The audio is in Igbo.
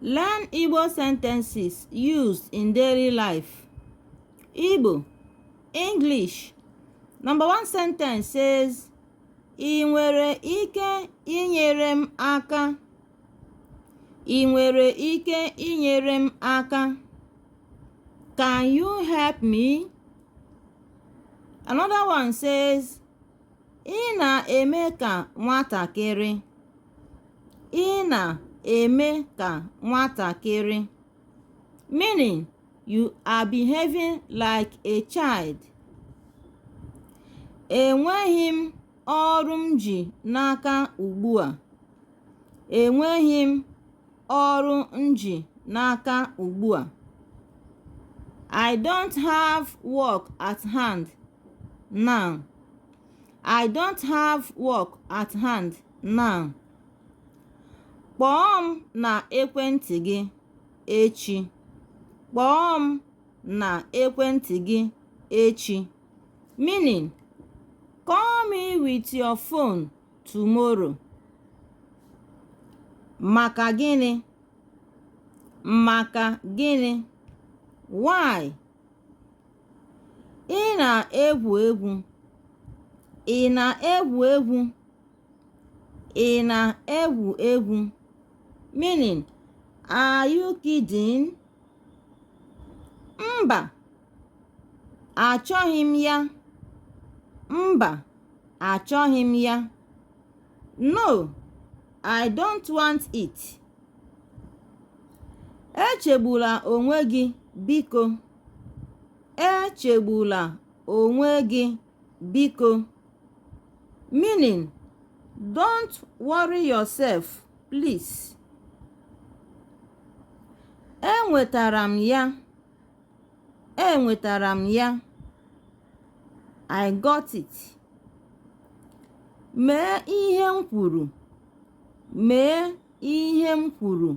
Learn Igbo sentences used in daily life. Igbo, English. Number one sentence says, Ị nwere ike inyere m aka. Ị nwere ike inyere m aka. Can you help me? Another one says, Ị na-eme ka nwatakịrị. Ị na-eme ka nwatakịrị. Meaning, you are behaving like a child. Enweghị m ọrụ m ji n'aka ugbu a. Enweghị m ọrụ m ji n'aka ugbu a. I don't have work at hand. now i don't have work at hand now kpọọ m na ekwentị gị echi kpọọ m na ekwentị gị echi meaning call me with your phone tomorrow maka gịnị maka gịnị why ị na-egwu egwu ị na-egwu egwu ị na-egwu egwu meaning are you kidding? mba achọghị m ya mba achọghị m ya no i don't want it echegbula onwe gị biko echegbula onwe gị biko meaning don't worry yourself please enwetara m ya enwetara m ya i got it mee ihe m kwuru mee ihe m kwuru